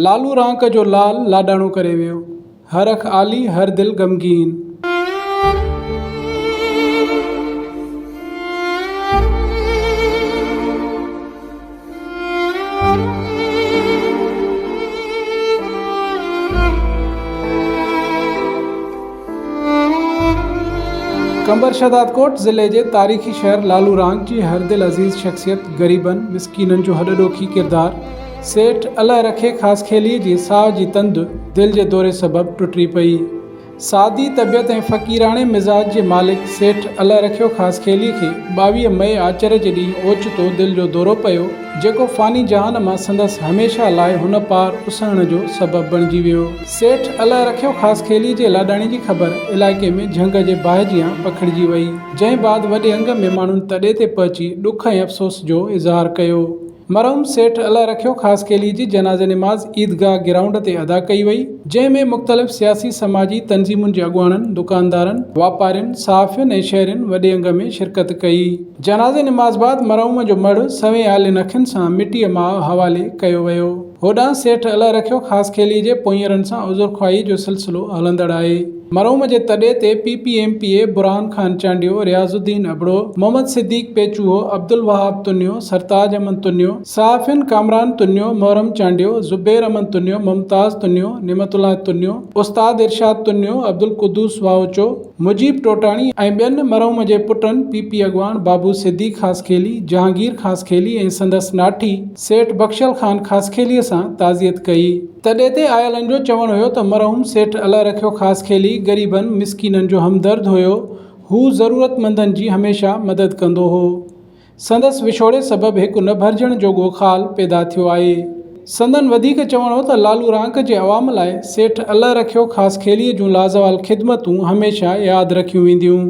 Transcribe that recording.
لالو رانڪ جو لال لاڏاڻو ڪري ويو. هر اک آلي هر دل غمگين. قمبر شهدادڪوٽ ضلعي جي تاريخي شهر لالو رانڪ جي هر دل عزيز شخصيت غريبن مسڪينن جو هڏڏوکي ڪردار سيٺ الله رکي خاصخيليء جي ساهه جي تند دل جي دوري سبب ٽٽي پئي. سادي طبيعت ۽ فقيراڻي مزاج جي مالڪ سيٺ الله رکيو خاصخيليء کي ٻاويهه مئي آچر جي ڏينهن اوچتو دل جو دورو پيو، جيڪو فاني جهان مان سندس هميشه لاء هن پار اسهڻ جو سبب بڻجي ويو. سيٺ الله رکيو خاصخيليء جي لاڏاڻي جي خبر علائقي ۾ جهنگ جي باهه جيان پکڙجي وئي، جنهن بعد وڏي انگ ۾ ماڻهن تڏي تي پهچي ڏک ۽ افسوس جو اظهار ڪيو. مرحوم سيٺ الله رکيو خاصخيلي جي جنازي نماز عيدگاهه گرائونڊ تي ادا ڪئي وئي، جنهن ۾ مختلف سياسي سماجي تنظيمن جي اڳواڻن، دڪاندارن، واپارين، صحافين ۽ شهرين وڏي انگ ۾ شرڪت ڪئي. جنازي نماز بعد مرحوم جو مڙهه سوين آلين اکين سان مٽيء ماء حوالي ڪيو ويو. هوڏانهن سيٺ الله رکيو خاصخيلي جي پونئيرن سان عذرخواهي جو سلسلو هلندڙ آهي. مرحوم جي تڏي تي P P M P A Burhan Khan Chandio, Riaz Uddin Abro, Muhammad Siddique Pechuho, Abdulwahab Tunio, Sartaj Aman Tunio, صحافين ڪامران تنيو، محرم چانڊيو، زبير امن تنيو، ممتاز تنيو، نعمت الله تنيو، استاد ارشاد تنيو، عبدالقدوس واهوچو، مجيب ٽوٽاڻي ۽ ٻين مرحوم جي پٽن پي پي اڳواڻ بابو صديق خاصخيلي، جهانگير خاصخيلي ۽ سندس ناٺي سيٺ بخشل خان خاصخيليء سان تعزيت ڪئي. تڏي تي آيلن جو چوڻ هيو ته مرحوم سيٺ الله رکيو خاصخيلي غريبن مسڪينن جو همدرد هيو. هو ضرورتمندن جي هميشه مدد ڪندو هو. سندس وڇوڙي سبب هڪ نه ڀرجڻ جوڳو خال پيدا ٿيو آهي. سندن وڌيڪ چوڻ هو ته لالو رانڪ جي عوام لاء سيٺ الله رکيو خاصخيليء جون لازوال خدمتون هميشه ياد رکيون وينديون.